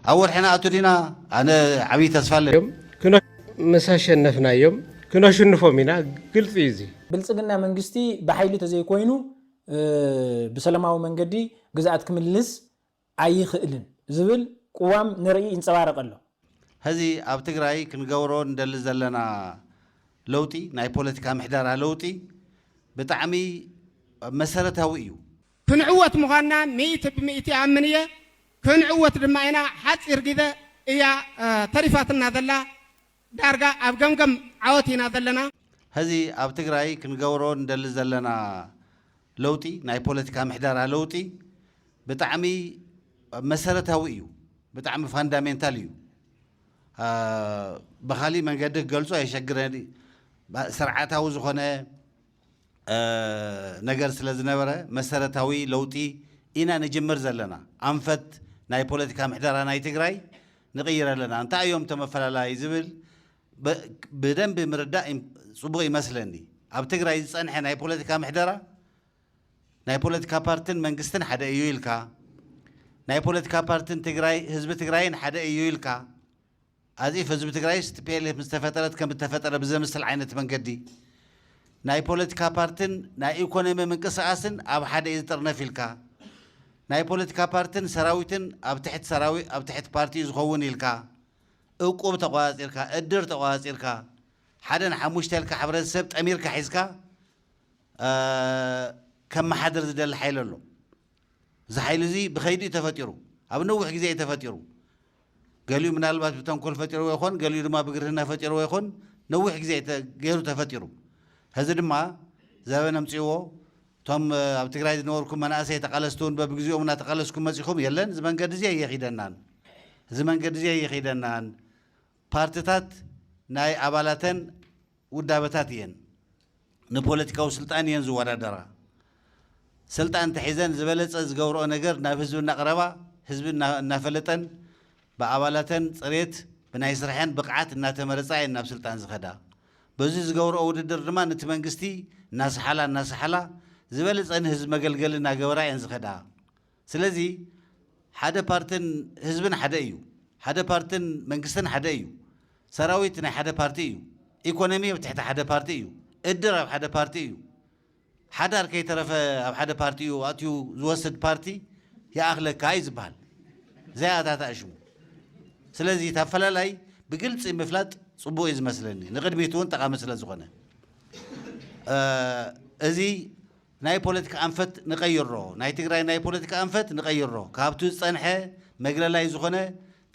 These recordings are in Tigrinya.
ኣብ ወርሒ ንኣቱ ዲና ኣነ ዓብዪ ተስፋ ኣለኒ። እዮም ክነ ምስ ኣሸነፍናዮም ክነሽንፎም ኢና ግልፂ እዩ እዚ። ብልፅግና መንግስቲ ብሓይሊ ተዘይኮይኑ ብሰለማዊ መንገዲ ግዝኣት ክምልስ ኣይኽእልን ዝብል ቁዋም ንርኢ ይንፀባረቅ ኣሎ። ሀዚ ኣብ ትግራይ ክንገብሮ ንደሊ ዘለና ለውጢ ናይ ፖለቲካ ምሕደራ ለውጢ ብጣዕሚ መሰረታዊ እዩ። ክንዕወት ምዃንና ሚእቲ ብሚእቲ እኣምን እየ ክንዕወት ድማ ኢና ሓጺር ግዘ እያ ተሪፋትና ዘላ ዳርጋ ኣብ ገምገም ዓወት ኢና ዘለና። ሀዚ ኣብ ትግራይ ክንገብሮ ንደሊ ዘለና ለውጢ ናይ ፖለቲካ ምሕደራ ለውጢ ብጣዕሚ መሰረታዊ እዩ ብጣዕሚ ፋንዳሜንታል እዩ ብኻሊእ መንገዲ ክገልጾ የሸግረኒ ስርዓታዊ ዝኾነ ነገር ስለ ዝነበረ መሰረታዊ ለውጢ ኢና ንጅምር ዘለና። ኣንፈት ናይ ፖለቲካ ምሕደራ ናይ ትግራይ ንቕይር ኣለና። እንታይ እዮም እቶም ኣፈላላይ ዝብል ብደንቢ ምርዳእ ፅቡቕ ይመስለኒ። ኣብ ትግራይ ዝፀንሐ ናይ ፖለቲካ ምሕደራ ናይ ፖለቲካ ፓርትን መንግስትን ሓደ እዩ ኢልካ፣ ናይ ፖለቲካ ፓርትን ትግራይ ህዝቢ ትግራይን ሓደ እዩ ኢልካ፣ ኣዚፍ ህዝቢ ትግራይስ ቲፒኤልኤፍ ምስ ተፈጠረት ከም እተፈጠረ ብዘምስል ዓይነት መንገዲ ናይ ፖለቲካ ፓርትን ናይ ኢኮኖሚ ምንቅስቃስን ኣብ ሓደ እዩ ዝጥርነፍ ኢልካ ናይ ፖለቲካ ፓርትን ሰራዊትን ኣብ ትሕት ሰራዊ ኣብ ትሕት ፓርቲ እዩ ዝኸውን ኢልካ እቁብ ተቆፃፂርካ እድር ተቆፃፂርካ ሓደ ን ሓሙሽተ ኢልካ ሕብረተሰብ ጠሚርካ ሒዝካ ከመሓድር ዝደሊ ሓይሊ ኣሎ እዚ ሓይሊ እዚ ብኸይዲ እዩ ተፈጢሩ፣ ኣብ ነዊሕ ግዜ እዩ ተፈጢሩ። ገሊኡ ምናልባት ብተንኮል ፈጢርዎ ይኾን፣ ገሊኡ ድማ ብግርህና ፈጢርዎ ይኾን፣ ነዊሕ ግዜ እዩ ገይሩ ተፈጢሩ። ሕዚ ድማ ዘበን ኣምፂእዎ፣ እቶም ኣብ ትግራይ ዝነበርኩም መናእሰይ ተቓለስቲ እውን በብግዚኦም እናተቓለስኩም መፂኹም፣ የለን እዚ መንገዲ እዚ ኣየኺደናን፣ እዚ መንገዲ እዚ ኣይኺደናን፣ ፓርትታት ናይ ኣባላተን ውዳበታት እየን ንፖለቲካዊ ስልጣን እየን ዝወዳደራ ሰልጣን እንተሒዘን ዝበለፀ ዝገብረኦ ነገር ናብ ህዝቢ እናቕረባ ህዝቢ እናፈለጠን ብኣባላተን ፅሬት ብናይ ስርሐን ብቕዓት እናተመረፃ እየን ናብ ስልጣን ዝኸዳ በዙይ ዝገብረኦ ውድድር ድማ ንቲ መንግስቲ እናሰሓላ እናሰሓላ ዝበለፀ ንህዝቢ መገልገሊ እናገበራ እየን ዝኸዳ ስለዚ ሓደ ፓርትን ህዝብን ሓደ እዩ። ሓደ ፓርትን መንግስትን ሓደ እዩ። ሰራዊት ናይ ሓደ ፓርቲ እዩ። ኢኮኖሚ ኣብ ትሕቲ ሓደ ፓርቲ እዩ። እድር ኣብ ሓደ ፓርቲ እዩ። ሓዳር ከይተረፈ ኣብ ሓደ ፓርቲ እዩ ኣእትዩ ዝወስድ ፓርቲ ይኣኽለካ እዩ ዝበሃል። ዘይኣታታእሽሙ። ስለዚ እቲ ኣፈላላይ ብግልፂ ምፍላጥ ፅቡቕ እዩ ዝመስለኒ። ንቕድሚት እውን ጠቓሚ ስለዝኾነ። እዚ ናይ ፖለቲካ ኣንፈት ንቀይሮ ናይ ትግራይ ናይ ፖለቲካ ኣንፈት ንቀይሮ ካብቱ ዝፀንሐ መግለላይ ዝኾነ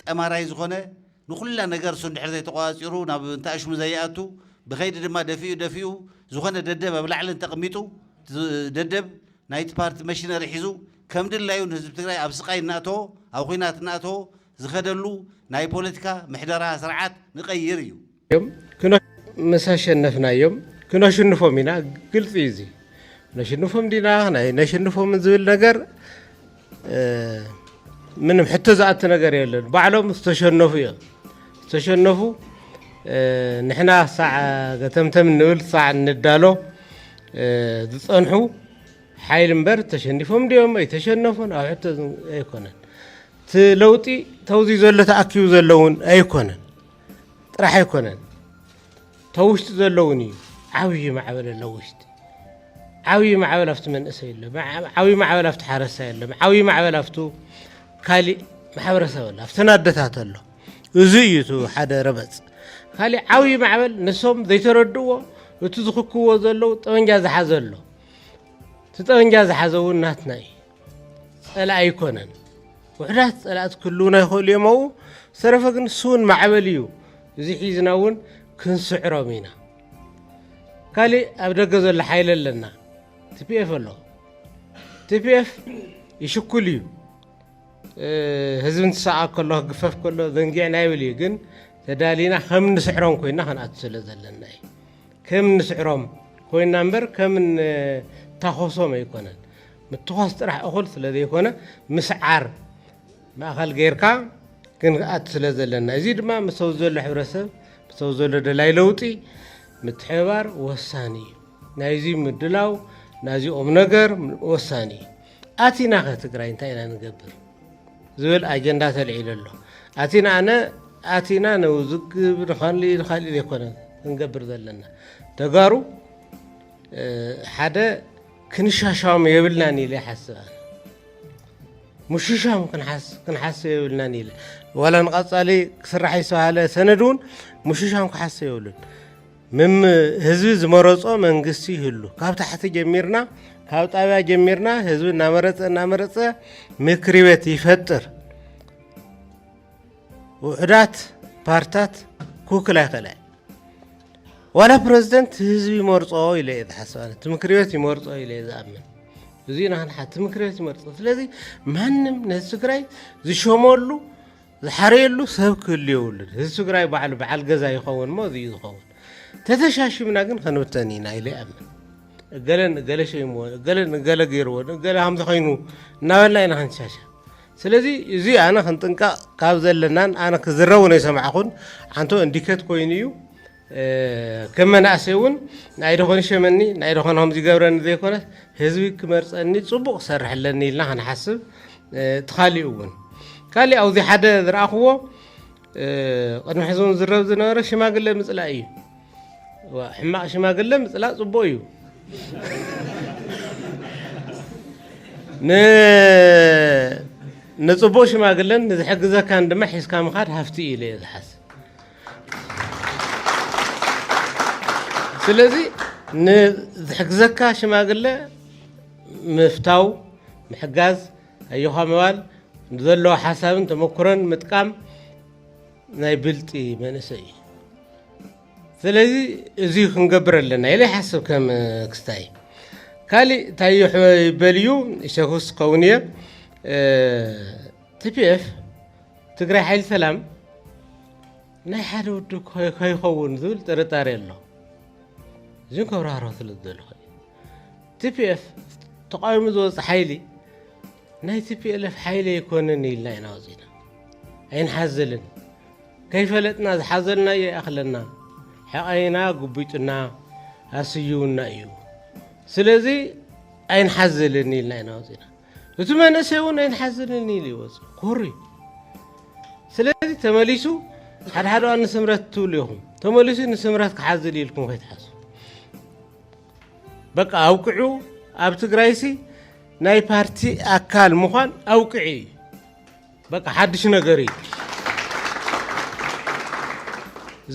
ጠማራይ ዝኾነ ንኹላ ነገር እሱ እንድሕር ዘይተቆፃፂሩ ናብ እንተኣሽሙ ዘይኣቱ ብኸይዲ ድማ ደፊኡ ደፊኡ ዝኾነ ደደብ ኣብ ላዕሊ እንተቅሚጡ እቲ ደደብ ናይቲ ፓርቲ መሽነሪ ሒዙ ከምድላዩ ንህዝቢ ትግራይ ኣብ ስቃይ እናእተዎ ኣብ ኹናት እናእተዎ ዝኸደሉ ናይ ፖለቲካ ምሕደራ ስርዓት ንቀይር እዩ። እዮም ምስ ኣሸነፍና እዮም ክነሽንፎም ኢና ግልፂ እዩ እዚ ነሽንፎም ዲና ናይ ነሽንፎም ዝብል ነገር ምንም ሕቶ ዝኣቲ ነገር የለን ባዕሎም ዝተሸነፉ እዮም ዝተሸነፉ ንሕና ሳዕ ገተምተም ንብል ሳዕ ንዳሎ ዝፀንሑ ሓይሊ እምበር ተሸኒፎም ድዮም ኣይተሸነፉን ኣብ ሕቶ ኣይኮነን እቲ ለውጢ ተውዚ ዘሎ ተኣኪቡ ዘለውን ኣይኮነን ጥራሕ ኣይኮነን ተውሽጢ ዘለውን እዩ ዓብዪ ማዕበል ኣሎ ውሽጢ ዓብዪ ማዕበል ኣብቲ መንእሰይ ኣሎ ዓብዪ ማዕበል ኣብቲ ሓረስታይ ኣሎ ዓብዪ ማዕበል ኣብቱ ካሊእ ማሕበረሰብ ኣሎ ኣብተን ኣደታት ኣሎ እዚ እዩ እቲ ሓደ ረበፅ ካሊእ ዓብዪ ማዕበል ንሶም ዘይተረድእዎ እቲ ዝኽክዎ ዘለዉ ጠበንጃ ዝሓዘ ኣሎ እቲ ጠበንጃ ዝሓዘ እውን ናትና እዩ፣ ጸላኢ ኣይኮነን። ውሕዳት ጸላእቲ ክህልውና ይኽእሉ እዮም ኣብኡ፣ ዝተረፈ ግን ስውን ማዕበል እዩ፣ እዚ ሒዝና እውን ክንስዕሮም ኢና። ካልእ ኣብ ደገ ዘሎ ሓይሊ ኣለና፣ ቲፒኤፍ ኣሎ። ቲፒኤፍ ይሽኩል እዩ፣ ህዝቢ እንትሰቃ ከሎ ክግፈፍ ከሎ ዘንጊዕና ይብል እዩ፣ ግን ተዳሊና ከም ንስዕሮም ኮይና ክንኣቱ ስለ ዘለና እዩ። ከም እንስዕሮም ኮይና እምበር ከም እንታኾሶም ኣይኮነን። ምትዃስ ጥራሕ እኹል ስለ ዘይኮነ ምስዓር ማእኸል ገይርካ ክንኣቱ ስለ ዘለና እዚ ድማ ምስ ኣብዚ ዘሎ ሕብረተሰብ ምስ ኣብዚ ዘሎ ደላይ ለውጢ ምትሕብባር ወሳኒ እዩ። ናይዚ ምድላው ናዚ ቁም ነገር ወሳኒ እዩ። ኣቲና ከ ትግራይ እንታይ ኢና ንገብር ዝብል ኣጀንዳ ተልዒሉ ኣሎ። ኣቲና ኣነ ኣቲና ንውዝግብ ንካልእ ንካልእ ዘይኮነ ክንገብር ዘለና ተጋሩ ሓደ ክንሻሻም የብልናን ኢለ ይሓስብ ኣነ ምሽሻም ክንሓስብ የብልናን ኢለ ዋላ ንቐፃሊ ክስራሕ ዝተባሃለ ሰነድ እውን ምሽሻም ክሓስብ የብሉን። ምም ህዝቢ ዝመረጾ መንግስቲ ይህሉ ካብ ታሕቲ ጀሚርና ካብ ጣብያ ጀሚርና ህዝቢ እናመረፀ እናመረፀ ምክሪ ቤት ይፈጥር ውሕዳት ፓርታት ክውክል ኣይክእለ ዋላ ፕረዚደንት ህዝቢ ይመርፆ ኢለ እየ ዝሓስብ ኣነ እቲ ምክሪ ቤት ይመርፆ ኢለ እየ ዝኣምን እዚ ናህንሓ እቲ ምክሪ ቤት ይመርፆ ስለዚ ማንም ነዚ ትግራይ ዝሸመሉ ዝሓረየሉ ሰብ ክህሉ የብሉን ህዝቢ ትግራይ ባዕሉ በዓል ገዛ ይኸውን እሞ እዚዩ ዝኸውን ተተሻሽምና ግን ከንብተን ኢና ኢለ ይኣምን እገለ ንእገለ ሸይምዎ እገለ ንእገለ ገይርዎ ንእገለ ከምዚ ኮይኑ እናበልና ኢና ክንሻሻ ስለዚ እዚ ኣነ ክንጥንቀቕ ካብ ዘለናን ኣነ ክዝረብ ነው የሰማዕኹን ሓንቶ እንዲኬት ኮይኑ እዩ ከም መናእሰይ እውን ናይ ዶ ኾን ይሸመኒ ናይ ዶ ኾን ከምዚ ይገብረኒ ዘይኮነስ ህዝቢ ክመርፀኒ ፅቡቕ ክሰርሕ ኣለኒ ኢልና ክንሓስብ እቲ ካሊኡ እውን ካሊእ ኣብዚ ሓደ ዝረኣኽዎ ቅድሚ ሕዚ እውን ዝረብ ዝነበረ ሽማግለ ምፅላእ እዩ ሕማቕ ሽማግለ ምፅላእ ፅቡቕ እዩ ንፅቡቕ ሽማግለን ንዝሕግዘካን ድማ ሒዝካ ምኻድ ሃፍቲ እዩ ኢለ እየ ዝሓስብ ስለዚ ንዝሕግዘካ ሽማግለ ምፍታው ምሕጋዝ ኣዮኻ ምባል ዘለዎ ሓሳብን ተመክሮን ምጥቃም ናይ ብልጢ መንእሰይ እዩ ስለዚ እዚ ክንገብር ኣለና ኢለ ይሓስብ ከም ክስታይ ካሊእ እንታይ ይበል እዩ ሸኹስ ከውን እየ ቲፒኤፍ ትግራይ ሓይሊ ሰላም ናይ ሓደ ውድብ ከይኸውን ዝብል ጥርጣሬ ኣሎ እዚ ከብራህሮ ስለ ዝደለኹ ቲፒኤፍ ተቃዊሙ ዝወፅ ሓይሊ ናይ ቲፒኤልፍ ሓይሊ ኣይኮነን ኢልና ኢና ወፂና ኣይንሓዝልን ከይፈለጥና ዝሓዘልና እየ ኣኽለና ሕቐይና ጉቢጡና ኣስዩውና እዩ ስለዚ ኣይንሓዝልን ኢልና ኢና ወፂና እቲ መንእሰይ እውን ኣይንሓዝንን ኢሉ ይወፅእ ኮሪ ስለዚ ተመሊሱ ሓደ ሓደ እዋን ንስምረት ትብሉ ኢኹም ተመሊሱ ንስምረት ክሓዝል ኢልኩም ከይትሓዙ በቃ ኣውቅዑ ኣብ ትግራይሲ ናይ ፓርቲ ኣካል ምዃን ኣውቅዒ እዩ በቃ ሓድሽ ነገር እዩ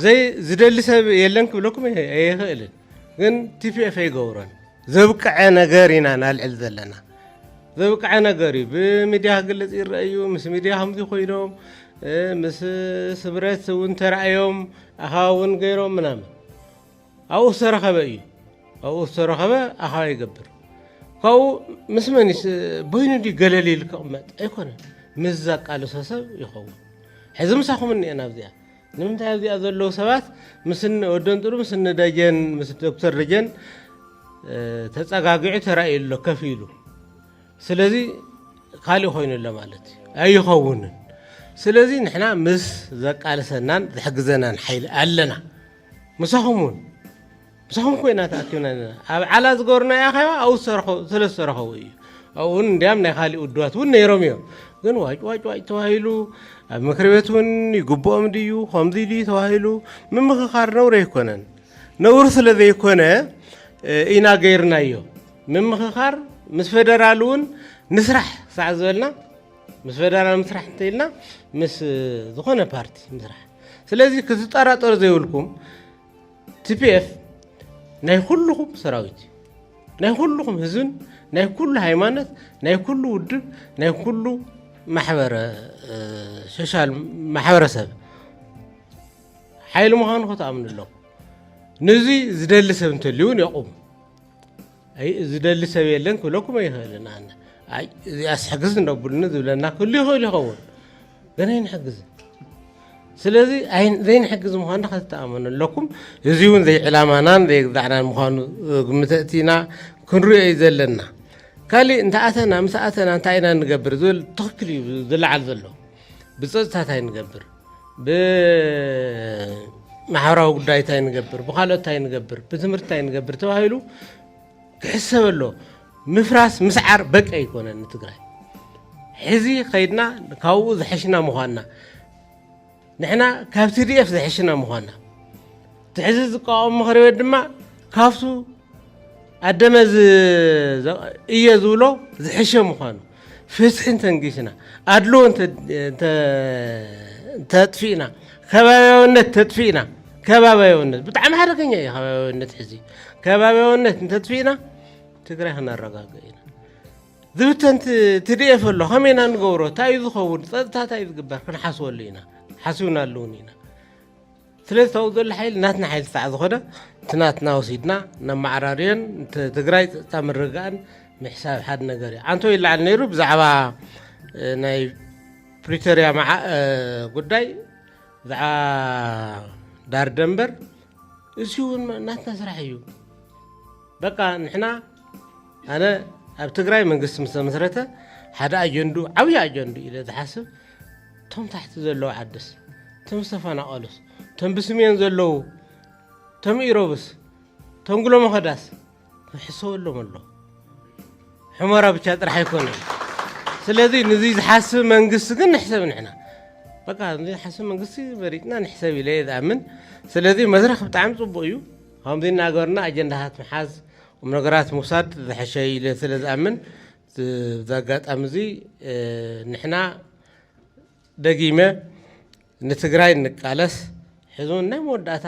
ዘይ ዝደሊ ሰብ የለን ክብለኩም ኣይኽእልን ግን ቲፒኤፍ ኣይገብሮን ዘብቀዐ ነገር ኢና ናልዕል ዘለና ዘብቀዐ ነገር እዩ ብሚድያ ክግለፅ ይረአ እዩ ምስ ሚድያ ከምዚ ኮይኖም ምስ ስብረት እውን ተራእዮም ኣኸባ እውን ገይሮም ምናምን ኣብኡ ዝተረኸበ እዩ ኣብኡ ዝተረኸበ ኣኸባ ይገብር ካብኡ ምስ መን በይኑ ድዩ ገለል ኢሉ ክቕመጥ ኣይኮነን ምስ ዘቃልሶ ሰብ ይኸውን ሕዚ ምሳኹም እኒኤና ኣብዚኣ ንምንታይ ኣብዚኣ ዘለዉ ሰባት ምስ እነ ወዲ ኣንጥሩ ምስ እነ ደጀን ምስ ዶክተር ደጀን ተጸጋጊዑ ተራእዩ ኣሎ ከፍ ኢሉ ስለዚ ካልእ ኮይኑ ኣሎ ማለት እዩ ኣይኸውንን ስለዚ ንሕና ምስ ዘቃልሰናን ዝሕግዘናን ሓይሊ ኣለና ምሳኹም እውን ምሳኹም ኮይና ተኣኪብና ኣለና። ኣብ ዓላ ዝገበርናዮ ኣኼባ ኣብኡ ዝሰረኸ ስለ ዝሰረኸቡ እዩ። ኣብኡ እውን እንዲያም ናይ ካልእ ውድባት እውን ነይሮም እዮም። ግን ዋጭ ዋጭ ዋጭ ተባሂሉ ኣብ ምክሪ ቤት እውን ይግብኦም ድዩ ከምዚ ድዩ ተባሂሉ ምምኽኻር ነውሪ ኣይኮነን። ነውሪ ስለ ዘይኮነ እ፣ ኢና ገይርናዮ። ምምኽኻር ምስ ፌደራል እውን ንስራሕ ሳዕ ዝበልና ምስ ፌደራል ምስራሕ እንተኢልና ምስ እ፣ ዝኾነ ፓርቲ ምስራሕ ስለዚ ክትጠራጠሩ ዘይብልኩም ቲፒኤፍ ናይ ኩሉኹም ሰራዊት እዩ ናይ ኩሉኹም ህዝብን ናይ ኩሉ ሃይማኖት ናይ ኩሉ ውድብ ናይ ኩሉ ሶሻል ማሕበረሰብ ሓይሊ ምዃኑ ከተኣምኑ ኣለኹ ነዚ ዝደሊ ሰብ እንተልዩ እውን የቑም ኣይ ዝደሊ ሰብ የለን ክብለኩም ኣይኽእልን ኣነ ኣይ እዚኣስ ሕግዝ እነብሉኒ ዝብለና ክህሉ ይኽእል ይኸውን ግን ኣይንሕግዝን ስለዚ ዘይንሕግዝ ምዃኑ ከተኣመኑ ኣለኩም እዚ እውን ዘይዕላማናን ዘይግዛዕናን ምዃኑ ግምተእቲና ክንሪኦ እዩ ዘለና ካሊእ እንተኣተና ምስ ኣተና እንታይ ኢና ንገብር ዝብል ትኽክል እዩ ዝለዓል ዘሎ ብፀፅታ እንታይ ንገብር ብማሕበራዊ ጉዳይ እንታይ ንገብር፣ ብካልኦት እንታይ ንገብር፣ ብትምህርቲ እንታይ ንገብር ተባሂሉ ክሕሰብ ኣሎ። ምፍራስ ምስዓር በቂ ኣይኮነን ንትግራይ ሕዚ ከይድና ካብኡ ዝሐሽና ምኳንና ንሕና ካብ ቲዲኤፍ ዝሐሽና ምኳንና እቲ ሕዚ ዝቃወም ምክሪ ቤት ድማ ካብቱ ኣደመ እየ ዝብሎ ዝሕሸ ምዃኑ ፍትሒ እንተንጊስና ኣድልዎ እንተጥፊእና ከባቢያውነት ተጥፊእና ከባቢያውነት ብጣዕሚ ሓደገኛ እዩ ከባቢያውነት ሕዚ ከባቢያውነት እንተጥፊእና ትግራይ ክነረጋገ ኢና ዝብተን ትድኤፍ ኣሎ ከመይ ኢና ንገብሮ እንታይ እዩ ዝኸውን ፀጥታ እንታይ እዩ ዝግበር ክንሓስበሉ ኢና ሓስብናሉ እውን ኢና ስለዚ እቲ ኣብኡ ዘሎ ሓይሊ ናትና ሓይሊ ክሳዕ ዝኾነ እቲ ናትና ወሲድና ነመዓራርዮን ትግራይ ፀጥታ ምርግጋእን ምሕሳብ ሓደ ነገር እዩ ዓንቶ ይለዓል ነይሩ ብዛዕባ ናይ ፕሪቶሪያ ጉዳይ ብዛዕባ ዳር ደንበር እዚ እውን ናትና ስራሕ እዩ በቃ ንሕና ኣነ ኣብ ትግራይ መንግስቲ ምስ ተመስረተ ሓደ ኣጀንዱ ዓብዪ ኣጀንዱ ኢለ ዝሓስብ ቶም ታሕቲ ዘለዉ ዓድስ ቶም ዝተፈናቀሉስ ቶም ብስሜን ዘለዉ ቶም ኢሮብስ ቶም ጉሎመኸዳስ ክሕሰበሎም ኣሎ ሑመራ ብቻ ጥራሕ ኣይኮነ ስለዚ ንዚ ዝሓስብ መንግስቲ ግን ንሕሰብ ንሕና በቃ እዚ ሓስብ መንግስቲ መሪፅና ንሕሰብ ኢለ እየ ዝኣምን ስለዚ መድረክ ብጣዕሚ ፅቡቅ እዩ ከምዚ እናገበርና ኣጀንዳታት ምሓዝ ቁም ነገራት ምውሳድ ዝሐሸ ኢለ ስለ ዝኣምን እዚ ኣጋጣሚ እዚ ንሕና ደጊመ ንትግራይ እንቃለስ ሕዚ እውን ናይ መወዳእታ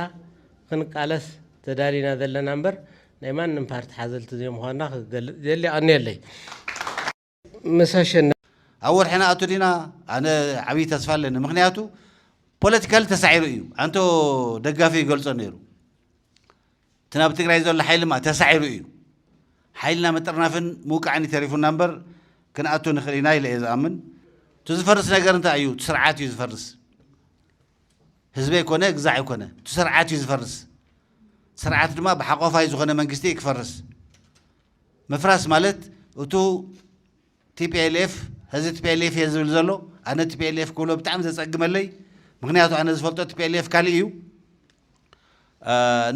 ክንቃለስ ተዳሊና ዘለና እምበር ናይ ማንም ፓርቲ ሓዘልቲ ዘይምዃንና ክገልፅ ይደሊ። ኣቐንየለይ ምስ ኣሸነ ኣብ ወርሒ ንኣቱ ዲና ኣነ ዓብዪ ተስፋ ኣለኒ ምክንያቱ ፖለቲካሊ ተሳዒሩ እዩ ኣንቶ ደጋፊ ይገልጾ ነይሩ እቲ ናብ ትግራይ ዘሎ ሓይልማ ተሳዒሩ እዩ። ሓይልና ምጥርናፍን ምውቃዕን እዩ ተሪፉና እምበር ክንኣቱ ንኽእል ኢና ኢለ እየ ዝኣምን። እቲ ዝፈርስ ነገር እንታይ እዩ? እቲ ስርዓት እዩ ዝፈርስ። ህዝቢ ኣይኮነ ግዛዕ ኣይኮነ፣ እቲ ስርዓት እዩ ዝፈርስ። ስርዓት ድማ ብሓቆፋይ ዝኾነ መንግስቲ እዩ ክፈርስ። ምፍራስ ማለት እቱ TPLF ሐዚ TPLF እየ ዝብል ዘሎ ኣነ TPLF ክብሎ ብጣዕሚ ዘጸግመለይ ምኽንያቱ ኣነ ዝፈልጦ TPLF ካልእ እዩ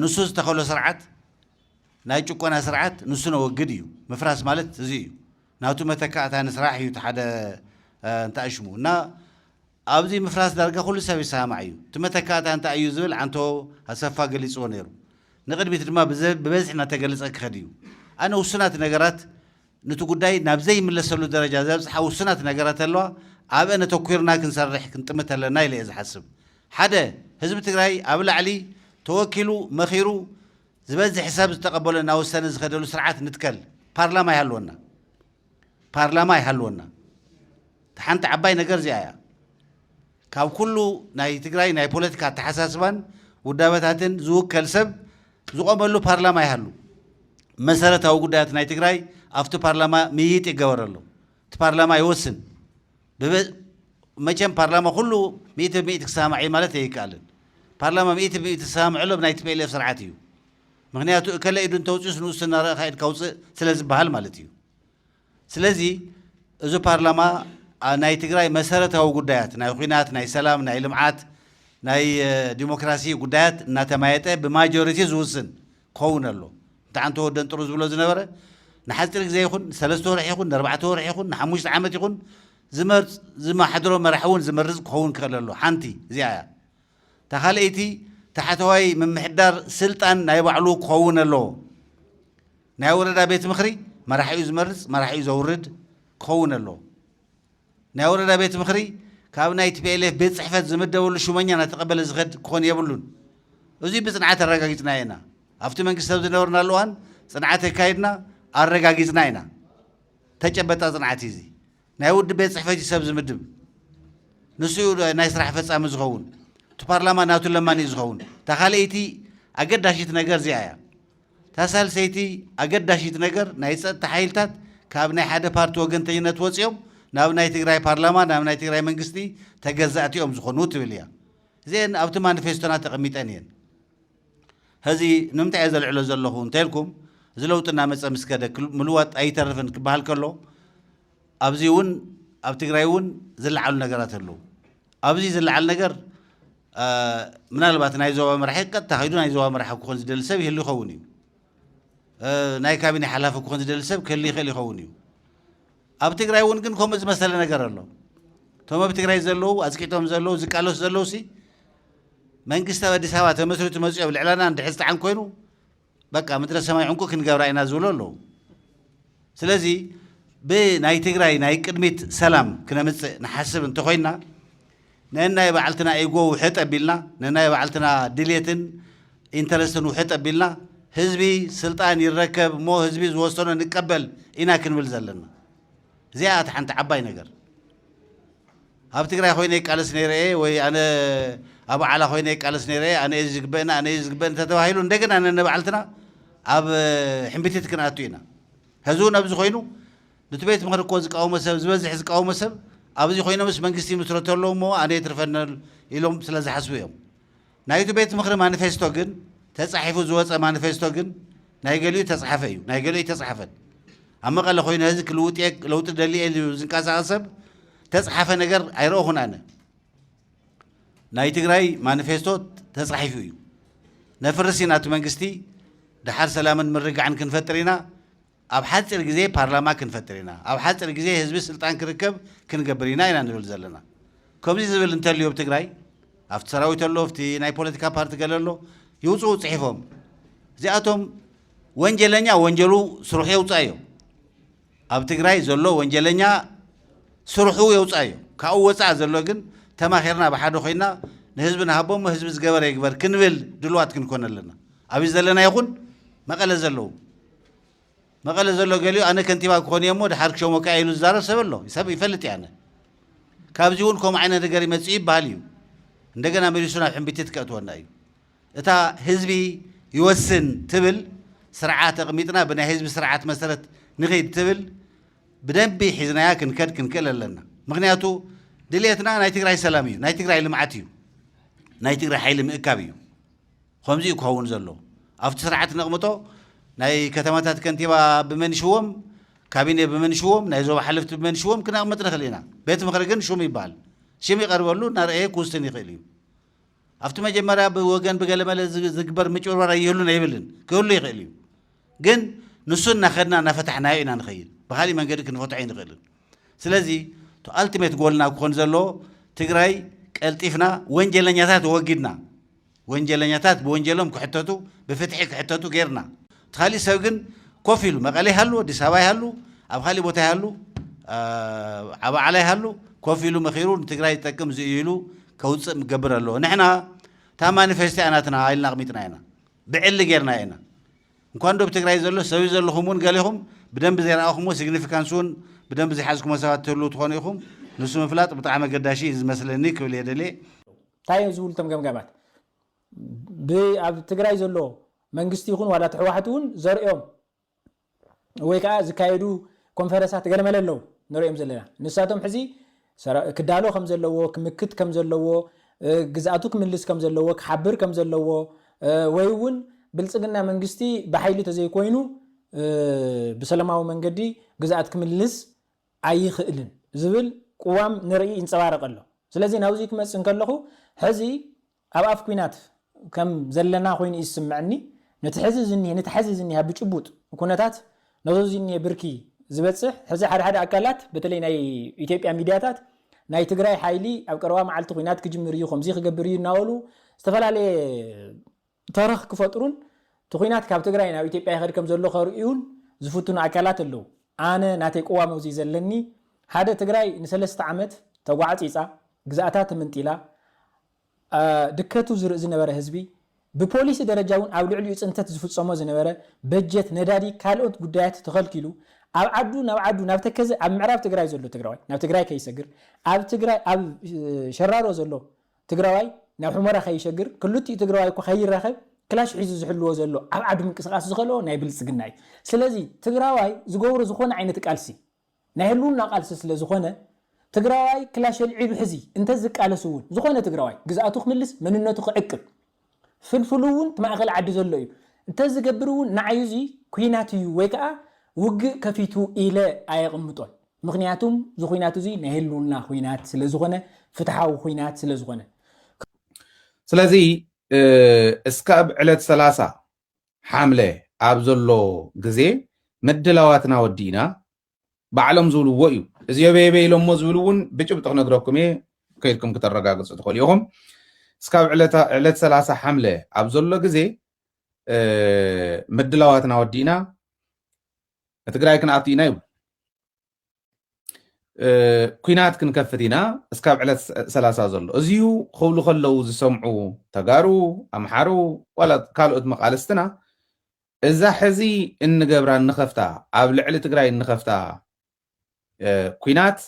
ንሱ ዝተኸሎ ስርዓት ናይ ጭቆና ስርዓት ንሱ ነወግድ እዩ ምፍራስ ማለት እዚ እዩ ናቱ መተካእታ ንስራሕ እዩ እቲ ሓደ እንተኣሽሙ እና ኣብዚ ምፍራስ ዳርጋ ኩሉ ሰብ ይሰማማዕ እዩ። እቲ መተካእታ እንታይ እዩ ዝብል ዓንቶ ኣሰፋ ገሊጽዎ ነይሩ። ንቕድሚት ድማ ብበዝሒ እናተገለጸ ክኸድ እዩ። ኣነ ውሱናት ነገራት ኑቲ ጉዳይ ናብ ዘይምለሰሉ ደረጃ ዘብጽሓ ውሱናት ነገራት ኣለዋ፣ ኣብአን ኣተኲርና ክንሰርሕ ክንጥምት ኣለና ኢለ እየ ዝሓስብ። ሓደ፣ ህዝቢ ትግራይ ኣብ ላዕሊ ተወኪሉ መኺሩ ዝበዝሕ ሰብ ዝተቐበሎ እናወሰነ ዝኸደሉ ስርዓት ንትከል፣ ፓርላማ ይሃልወና። ፓርላማ ይሃልወና እታ ሓንቲ ዓባይ ነገር እዚኣ እያ። ካብ ኩሉ ናይ ትግራይ ናይ ፖለቲካ ኣተሓሳስባን ውዳበታትን ዝውከል ሰብ ዝቆመሉ ፓርላማ ይሃሉ። መሰረታዊ ጉዳያት ናይ ትግራይ ኣብቲ ፓርላማ ምይይጥ ይገበረሉ። እቲ ፓርላማ ይወስን። መቸም ፓርላማ ኩሉ ሚእቲ ብሚእቲ ክሰማማዕ እዩ ማለት ኣይከኣልን። ፓርላማ ሚእቲ ብሚእቲ ዝሰማምዐሉ ኣብ ናይ ቲፒኤልኤፍ ስርዓት እዩ። ምኽንያቱ እከለ ኢዱ እንተውፅኡስ ንኡስ እናረኣኻ ኢድካ ውፅእ ስለዝበሃል ማለት እዩ። ስለዚ እዚ ፓርላማ ናይ ትግራይ መሰረታዊ ጉዳያት ናይ ኹናት፣ ናይ ሰላም፣ ናይ ልምዓት፣ ናይ ዲሞክራሲ ጉዳያት እናተማየጠ ብማጆሪቲ ዝውስን ክኸውን ኣሎ። እንተ ዓንተ ወደን ጥሩ ዝብሎ ዝነበረ ንሓፂር ግዜ ይኹን ንሰለስተ ወርሒ ይኹን ንኣርባዕተ ወርሒ ይኹን ንሓሙሽተ ዓመት ይኹን ዝመርፅ ዝመሓድሮ መራሒ እውን ዝመርፅ ክኸውን ክኽእል ኣሎ ሓንቲ እዚኣ እያ እታ ካልኣይቲ ታሕተዋይ ምምሕዳር ስልጣን ናይ ባዕሉ ክኸውን ኣለዎ። ናይ ወረዳ ቤት ምኽሪ መራሒኡ ዝመርፅ መራሒኡ ዘውርድ ክኸውን ኣለዎ። ናይ ወረዳ ቤት ምኽሪ ካብ ናይ tplf ቤት ፅሕፈት ዝምደበሉ ሹመኛ እናተቐበለ ዝኸድ ክኾን የብሉን። እዙይ ብፅንዓት ኣረጋጊፅናዮ ኢና። ኣብቲ መንግስቲ ኣብ ዝነበርናሉ እዋን ፅንዓት ኣካይድና ኣረጋጊፅና ኢና። ተጨበጣ ፅንዓት እዩ እዙይ። ናይ ውድብ ቤት ጽሕፈት እዩ ሰብ ዝምድብ ንሱ እዩ ናይ ስራሕ ፈጻሚ ዝኸውን እቲ ፓርላማ ናቱ ለማኒ እዩ ዝኸውን እታ ካልኣይቲ ኣገዳሺት ነገር እዚኣ እያ እታ ሳልሰይቲ ኣገዳሺት ነገር ናይ ጸጥታ ሓይልታት ካብ ናይ ሓደ ፓርቲ ወገንተኝነት ወፂኦም ናብ ናይ ትግራይ ፓርላማ ናብ ናይ ትግራይ መንግስቲ ተገዛእቲ እዮም ዝኾኑ ትብል እያ እዚአን ኣብቲ ማኒፌስቶና ተቐሚጠን እየን ሀዚ ንምንታይ እየ ዘልዕሎ ዘለኹ እንተልኩም እዚ ለውጢ እናመፀ ምስ ከደ ምልዋጥ ኣይተርፍን ክበሃል ከሎ ኣብዚ እውን ኣብ ትግራይ እውን ዝለዓሉ ነገራት ኣለዉ። ኣብዚ ዝለዓል ነገር ምናልባት ናይ ዞባ መራሒ ቀጥታ ከይዱ ናይ ዞባ መራሒ ክኾን ዝደሊ ሰብ ይህሉ ይኸውን እዩ። ናይ ካቢኔ ሓላፊ ክኾን ዝደሊ ሰብ ክህሉ ይኽእል ይኸውን እዩ። ኣብ ትግራይ እውን ግን ከምኡ ዝመሰለ ነገር ኣሎ። እቶም ኣብ ትግራይ ዘለዉ ኣፅቂጦም ዘለዉ ዝቃለሱ ዘለዉ ሲ መንግስቲ ኣብ ኣዲስ ኣበባ ተመስሪቱ መፅኡ ኣብ ልዕላና እንድሕር ዝጠዓን ኮይኑ በቃ ምድረ ሰማይ ዕንቁ ክንገብራ ኢና ዝብሉ ኣለዉ። ስለዚ ብናይ ትግራይ ናይ ቅድሚት ሰላም ክነምፅእ ንሓስብ እንተኾይንና ነናይ ባዕልትና ኢጎ ውሕጥ ኣቢልና፣ ነናይ ባዕልትና ድሌትን ኢንተረስትን ውሕጥ ኣቢልና፣ ህዝቢ ስልጣን ይረከብ እሞ ህዝቢ ዝወሰኖ ንቀበል ኢና ክንብል ዘለና። እዚኣ እያ እታ ሓንቲ ዓባይ ነገር። ኣብ ትግራይ ኮይነ ይቃለስ ነይረ እየ ወይ ኣነ ኣብ ዓላ ኮይነ ይቃለስ ነይረ እየ ኣነ እየ ዝግበእና ኣነ እየ ዝግበእኒ ተተባሂሉ እንደገና ነነባዕልትና ኣብ ሕምብቲት ክንኣቱ ኢና ሕዚ እውን ኣብዚ ኮይኑ ንቲ ቤት ምኽሪ እኮ ዝቃወሞ ሰብ ዝበዝሕ ዝቃወሞ ሰብ ኣብዚ ኮይኖምስ መንግስቲ ይምስረቱ ኣለው እሞ ኣነ የትርፈኒ ኢሎም ስለ ዝሓስቡ እዮም ናይቲ ቤት ምኽሪ ማኒፌስቶ ግን ተፃሒፉ ዝወፀ ማኒፌስቶ ግን ናይ ገሊኡ ተፅሓፈ እዩ ናይ ገሊኡ ኣይተፅሓፈን ኣብ መቐለ ኮይነ ህዝቢ ክልውጥ እየ ለውጢ ደሊ እየ ኢሉ ዝንቀሳቐስ ሰብ ተፅሓፈ ነገር ኣይረእኹን ኣነ ናይ ትግራይ ማኒፌስቶ ተፃሒፉ እዩ ነፍርስ ኢና እቲ መንግስቲ ድሓር ሰላምን ምርግጋዕን ክንፈጥር ኢና ኣብ ሓፂር ግዜ ፓርላማ ክንፈጥር ኢና፣ ኣብ ሓፅር ግዜ ህዝቢ ስልጣን ክርከብ ክንገብር ኢና ኢና ንብል ዘለና። ከምዙይ ዝብል እንተልዩ ኣብ ትግራይ ኣብቲ ሰራዊት ኣሎ ኣብቲ ናይ ፖለቲካ ፓርቲ ገለ ኣሎ ይውፅኡ ፅሒፎም እዚኣቶም ወንጀለኛ ወንጀሉ ስርሑ የውፅኣዮ ኣብ ትግራይ ዘሎ ወንጀለኛ ስርሑ የውፅኣዮ ካብኡ ወፃእ ዘሎ ግን ተማኺርና ብሓደ ኮይና ንህዝቢ ንሃቦ እሞ ህዝቢ ዝገበረ ይግበር ክንብል ድልዋት ክንኮን ኣለና ኣብይ ዘለና ይኹን መቐለ ዘለዉ መቐለ ዘሎ ገሊኡ ኣነ ከንቲባ ክኾን እየ'ሞ ደሓር ክሸሞካ እየ ኢሉ ዝዛረብ ሰብ ኣሎ። ሰብ ይፈልጥ እየ ኣነ። ካብዚ እውን ከምኡ ዓይነት ነገር ይመጽእ ይበሃል እዩ። እንደገና መሊሱ ናብ ሕምቢቲት ከእትወና እዩ። እታ ህዝቢ ይወስን ትብል ስርዓት ኣቕሚጥና ብናይ ህዝቢ ስርዓት መሰረት ንኺድ ትብል ብደንቢ ሒዝናያ ክንከድ ክንክእል ኣለና። ምክንያቱ ድልየትና ናይ ትግራይ ሰላም እዩ፣ ናይ ትግራይ ልምዓት እዩ፣ ናይ ትግራይ ሓይሊ ምእካብ እዩ። ኸምዚ እዩ ክኸውን ዘሎ ኣብቲ ስርዓት ነቕምጦ ናይ ከተማታት ከንቲባ ብመን ይሽወም ካቢኔ ብመን ይሽወም ናይ ዞባ ሓለፍቲ ብመን ይሽወም ክነቕምጥ ንኽእል ኢና ቤት ምኽሪ ግን ሹም ይበሃል ሽም ይቐርበሉ እናርኣየ ክውስን ይኽእል እዩ ኣብቲ መጀመርያ ብወገን ብገለመለ ዝግበር ምጭብርባር ኣይህሉን ኣይብልን ክህሉ ይኽእል እዩ ግን ንሱ እናኸድና እናፈታሕናዮ ኢና ንኸይድ ብካሊእ መንገዲ ክንፈትሖ ኣይንኽእልን ስለዚ እቲ ኣልቲሜት ጎልና ክኾን ዘለዎ ትግራይ ቀልጢፍና ወንጀለኛታት ወጊድና ወንጀለኛታት ብወንጀሎም ክሕተቱ ብፍትሒ ክሕተቱ ጌርና እቲ ካሊእ ሰብ ግን ኮፍ ኢሉ መቐለ ይሃሉ ኣዲስ ኣበባ ይሃሉ ኣብ ካሊእ ቦታ ይሃሉ ዓባዓላ ይሃሉ ኮፍ ኢሉ መኺሩ ንትግራይ ዝጠቅም እዚ እዩ ኢሉ ከውፅእ ምገብር ኣለዎ ንሕና እታ ማኒፌስቶ እያ ናትና ኢልና ኣቕሚጥና ኢና ብዕሊ ጌርና ኢና እንኳን ዶብ ትግራይ ዘሎ ሰብይ ዘለኹም እውን ገሌኹም ብደንቢ ዘይረኣኹምዎ ሲግኒፊካንስ እውን ብደንቢ ዘይሓዝኩሞ ሰባት ትህልው ትኾኑ ኢኹም ንሱ ምፍላጥ ብጣዕሚ ኣገዳሺ እዩ ዝመስለኒ ክብል እየ ደልየ። ታይ እዮም ዝብሉ እቶም ገምጋማት? ብ ኣብ ትግራይ ዘሎ መንግስቲ ይኹን ዋላ እቲ ሕዋሕት እውን ዘርእዮም ወይ ከዓ ዝካየዱ ኮንፈረሳት ገለመለ ኣለው ንርእዮም ዘለና ንሳቶም ሕዚ ሰራዊት ክዳሎ ከም ዘለዎ፣ ክምክት ከም ዘለዎ፣ ግዝኣቱ ክምልስ ከም ዘለዎ፣ ክሓብር ከም ዘለዎ ወይ'ውን ብልጽግና መንግስቲ ብሓይሊ ተዘይኮይኑ ብሰለማዊ መንገዲ ግዝኣት ክምልስ ኣይኽእልን ዝብል ቅዋም ንርኢ ይንጸባረቕ ኣሎ። ስለዚ ናብዚ ክመጽእ እንከለኹ ሕዚ ኣብ ኣፍ ኩናት ከም ዘለና ኮይኑ እዩ ዝስመዐኒ። ነቲ ሕዚ ዝኒሀ ነቲ ሐዚ ዝኒሀ ብጭቡጥ ኩነታት ነዞ ዝኒሀ ብርኪ ዝበፅሕ ሕዚ ሓደ ሓደ ኣካላት በተለይ ናይ ኢትዮጵያ ሚድያታት ናይ ትግራይ ሓይሊ ኣብ ቀረባ መዓልቲ ኩናት ክጅምር እዩ ከምዙይ ክገብር እዩ እናበሉ ዝተፈላለየ ተረኽ ክፈጥሩን እቲ ኩናት ካብ ትግራይ ናብ ኢትዮጵያ ይኸድ ከም ዘሎ ከርእዩን ዝፍትኑ ኣካላት ኣለው። ኣነ ናተይ ቅዋም ኣውዚዩ ዘለኒ ሓደ ትግራይ ንሰለስተ ዓመት ተጓዕጺጻ ግዝኣታ ትምንጢላ ድከቱ ዝርእ ዝነበረ ህዝቢ ብፖሊሲ ደረጃ ውን ኣብ ልዕሊኡ ጽንተት ዝፍጸሞ ዝነበረ በጀት ነዳዲ ካልኦት ጉዳያት ተኸልኪሉ ኣብ ዓዱ ናብ ዓዱ ናብ ተከዘ ኣብ ምዕራብ ትግራይ ዘሎ ትግራዋይ ናብ ትግራይ ከይሰግር ኣብ ትግራይ ኣብ ሸራሮ ዘሎ ትግራዋይ ናብ ሑመራ ከይሸግር ክልቲኡ ትግራዋይ እኳ ከይራኸብ ክላሽ ሒዙ ዝሕልዎ ዘሎ ኣብ ዓዱ ምንቅስቃስ ዝኸልኦ ናይ ብልፅግና እዩ ስለዚ ትግራዋይ ዝገብሮ ዝኾነ ዓይነት ቃልሲ ናይ ህልውና ቃልሲ ስለ ዝኾነ ትግራዋይ ክላሽ ኣልዒሉ ሕዚ እንተዝቃለስ እውን ዝኾነ ትግራዋይ ግዝኣቱ ክምልስ መንነቱ ክዕቅብ ፍልፍሉ እውን እቲ ማእኸል ዓዲ ዘሎ እዩ። እንተዝገብር እውን ንዓይ እዙይ ኲናት እዩ ወይ ከዓ ውግእ ከፊቱ ኢለ ኣየቕምጦን። ምኽንያቱም እዚ ዂናት እዙይ ናይ ህልውና ዂናት ስለዝኾነ፣ ፍትሓዊ ዂናት ስለዝኾነ። ስለዚ እስካብ ዕለት ሰላሳ ሓምለ ኣብ ዘሎ ግዜ ምድላዋትና ወዲእና ባዕሎም ዝብልዎ እዩ እዚ የበየበ ኢሎሞ ዝብል እውን ብጭብጢ ክነግረኩም እየ ከይድኩም ክተረጋግፁ ትኽእሉ ኢኹም እስካብ ዕለት ሰላሳ ሓምለ ኣብ ዘሎ ግዜ ምድላዋትና ወዲእና ትግራይ ክንኣቱ ኢና ይብሉ ኩናት ክንከፍት ኢና እስካብ ዕለት ሰላሳ ዘሎ እዚዩ ክብሉ ከለው ዝሰምዑ ተጋሩ ኣምሓሩ ዋላ ካልኦት መቃልስትና እዛ ሕዚ እንገብራ እንኸፍታ ኣብ ልዕሊ ትግራይ እንኸፍታ ኩናት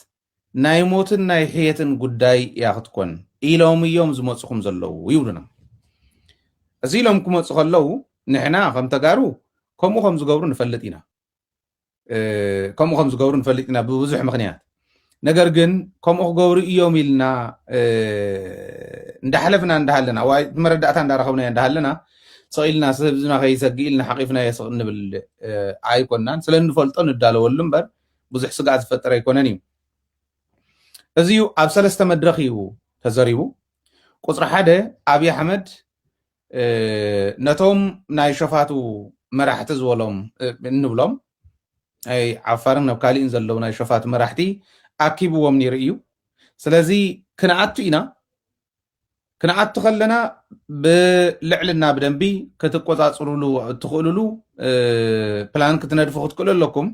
ናይ ሞትን ናይ ሕየትን ጉዳይ እያ ክትኮን ኢሎም እዮም ዝመፁኹም ዘለዉ ይብሉና። እዚ ኢሎም ክመፁ ከለዉ ንሕና ከም ተጋሩ ከምኡ ከም ዝገብሩ ንፈልጥ ኢና። ከምኡ ከም ዝገብሩ ንፈልጥ ኢና ብብዙሕ ምክንያት ነገር ግን ከምኡ ክገብሩ እዮም ኢልና እንዳሓለፍና እንዳሃለና ዋይ መረዳእታ እንዳረኸብና እንዳሃለና ሰቂልና ህዝብና ከይሰግእ ኢልና ሓቂፍና የስቕ እንብል ኣይኮናን ስለ እንፈልጦ ንዳለወሉ እምበር ብዙሕ ስጋእ ዝፈጠር ኣይኮነን እዩ እዚ እዩ ኣብ ሰለስተ መድረኽ እዩ ተዘሪቡ ቁፅሪ ሓደ ኣብዪ ኣሕመድ ነቶም ናይ ሸፋቱ መራሕቲ ዝበሎም እንብሎም ናይ ዓፋርን ኣብ ካሊእን ዘለዉ ናይ ሸፋቱ መራሕቲ ኣኪብዎም ነይሩ እዩ ስለዚ ክንኣቱ ኢና ክንኣቱ ከለና ብልዕልና ብደንቢ ክትቆፃፅሩሉ እትኽእሉሉ ፕላን ክትነድፉ ክትክእሉ ኣለኩም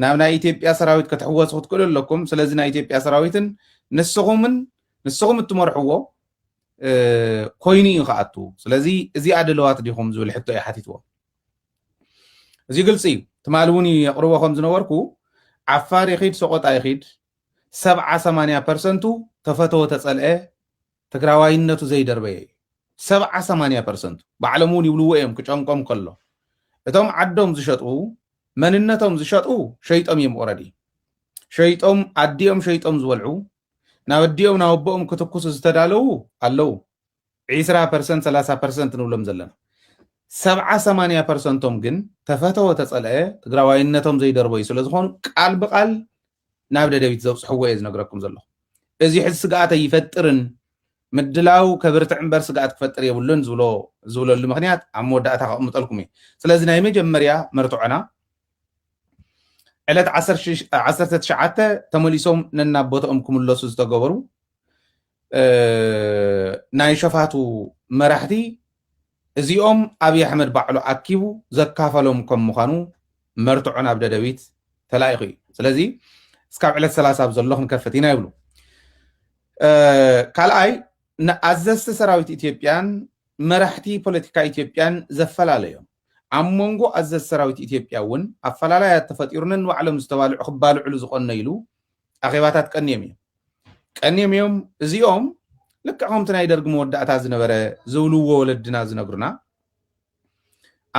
ናብ ናይ ኢትዮጵያ ሰራዊት ክትሕወሱ ክትክእሉ ኣለኩም ስለዚ ናይ ኢትዮጵያ ሰራዊትን ንስኹምን ንስኹም እትመርሕዎ ኮይኑ እዩ ክኣቱ ስለዚ እዚኣ ድለዋት ዲኹም ዝብል ሕቶ እዩ ሓቲትዎም እዚ ግልፂ እዩ ትማሊ እውን የቕርቦ ከም ዝነበርኩ ዓፋር ይኺድ ሰቆጣ ይኺድ ሰብዓ ሰማንያ ፐርሰንቱ ተፈተወ ተፀልአ ትግራዋይነቱ ዘይደርበየ እዩ ሰብዓ ሰማንያ ፐርሰንቱ ባዕሎም እውን ይብልዎ እዮም ክጨንቆም ከሎ እቶም ዓዶም ዝሸጡ መንነቶም ዝሸጡ ሸይጦም እዮም ኦረዲ ሸይጦም ኣዲኦም ሸይጦም ዝበልዑ ናብ ኣዲኦም ናብ ኣቦኦም ክትኩሱ ዝተዳለዉ ኣለዉ ዒስራ ፐርሰንት ሰላሳ ፐርሰንት ንብሎም ዘለና ሰብዓ ሰማንያ ፐርሰንቶም ግን ተፈተወ ተፀልአ ትግራዋይነቶም ዘይደርበዩ ስለ ዝኾኑ ቃል ብቃል ናብ ደደቢት ዘብፅሕዎ እየ ዝነግረኩም ዘለኹ እዚ ሕዚ ስግኣት ኣይፈጥርን ምድላው ከብርትዕ እምበር ስግኣት ክፈጥር የብሉን ዝብሎ ዝብለሉ ምክንያት ኣብ መወዳእታ ከቕምጠልኩም እዩ ስለዚ ናይ መጀመርያ መርትዖና ዕለት ዓሰርተ ትሽዓተ ተመሊሶም ነናብ ቦታኦም ክምለሱ ዝተገበሩ ናይ ሸፋቱ መራሕቲ እዚኦም ኣብዪ ኣሕመድ ባዕሉ ኣኪቡ ዘካፈሎም ከም ምዃኑ መርትዖ ናብ ደደቢት ተላኢኹ እዩ ስለዚ እስካብ ዕለት ሰላሳ ኣብ ዘሎ ክንከፍት ኢና ይብሉ ካልኣይ ንኣዘዝቲ ሰራዊት ኢትዮጵያን መራሕቲ ፖለቲካ ኢትዮጵያን ዘፈላለዮም ኣብ መንጎ ኣዘዝ ሰራዊት ኢትዮጵያ እውን ኣፈላላያት ተፈጢሩ ነንባዕሎም ዝተባልዑ ክባልዕሉ ዝቐነይሉ ኣኼባታት ቀንዮም እዮም። ቀንዮም እዮም እዚኦም ልክዕ ከምቲ ናይ ደርጊ መወዳእታ ዝነበረ ዝብልዎ ወለድና ዝነግሩና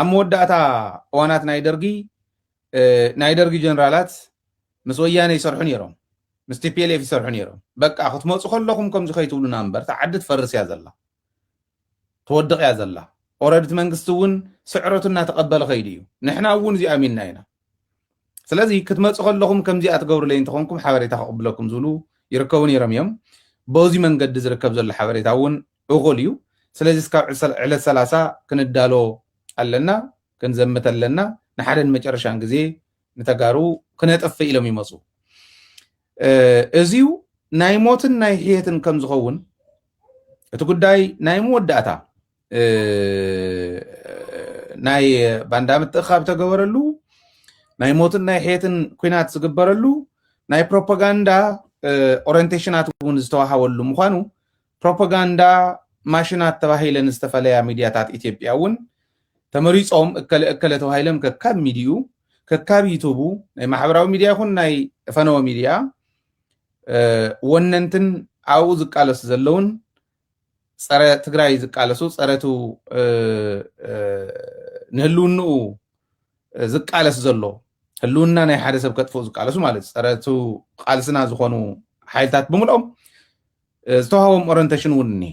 ኣብ መወዳእታ እዋናት ናይ ደርጊ ናይ ደርጊ ጀነራላት ምስ ወያነ ይሰርሑ ነይሮም ምስ ቲፒኤልኤፍ ይሰርሑ ነይሮም በቃ ክትመፁ ከለኹም ከምዚ ከይትብሉና እምበር እቲ ዓዲ ትፈርስ እያ ዘላ ትወድቕ እያ ዘላ ኦረዲ እቲ መንግስቲ እውን ስዕረቱ እናተቐበለ ከይዱ እዩ ንሕና እውን እዚኦ ኣሚንና ኢና ስለዚ ክትመፁ ከለኹም ከምዚኣ ትገብሩለይ እንተኾንኩም ሓበሬታ ከቕብለኩም ዝብሉ ይርከቡ ነይሮም እዮም በዚ መንገዲ ዝርከብ ዘሎ ሓበሬታ እውን እኹል እዩ ስለዚ እስካብ ዕለት ሰላሳ ክንዳሎ ኣለና ክንዘምት ኣለና ንሓደን መጨረሻን ግዜ ንተጋሩ ክነጥፍእ ኢሎም ይመፁ እዚዩ ናይ ሞትን ናይ ሕየትን ከም ዝኸውን እቲ ጉዳይ ናይ መወዳእታ ናይ ባንዳ ምትእኻብ ተገበረሉ ናይ ሞትን ናይ ሕየትን ኩናት ዝግበረሉ ናይ ፕሮፓጋንዳ ኦሪንቴሽናት እውን ዝተዋሃበሉ ምኳኑ ፕሮፖጋንዳ ማሽናት ተባሂለን ዝተፈለያ ሚድያታት ኢትዮጵያ እውን ተመሪፆም እከለ እከለ ተባሂሎም ከካብ ሚድይኡ ከካብ ዩቱቡ ናይ ማሕበራዊ ሚድያ ይኹን ናይ ፈነወ ሚድያ ወነንትን ኣብኡ ዝቃለሱ ዘለውን ፀረ ትግራይ ዝቃለሱ ፀረቱ ንህልውንኡ ዝቃለስ ዘሎ ህልውና ናይ ሓደ ሰብ ከጥፍኡ ዝቃለሱ ማለት ፀረ እቲ ቃልስና ዝኾኑ ሓይልታት ብምልኦም ዝተዋሃቦም ኦረንቴሽን እውን እኒሀ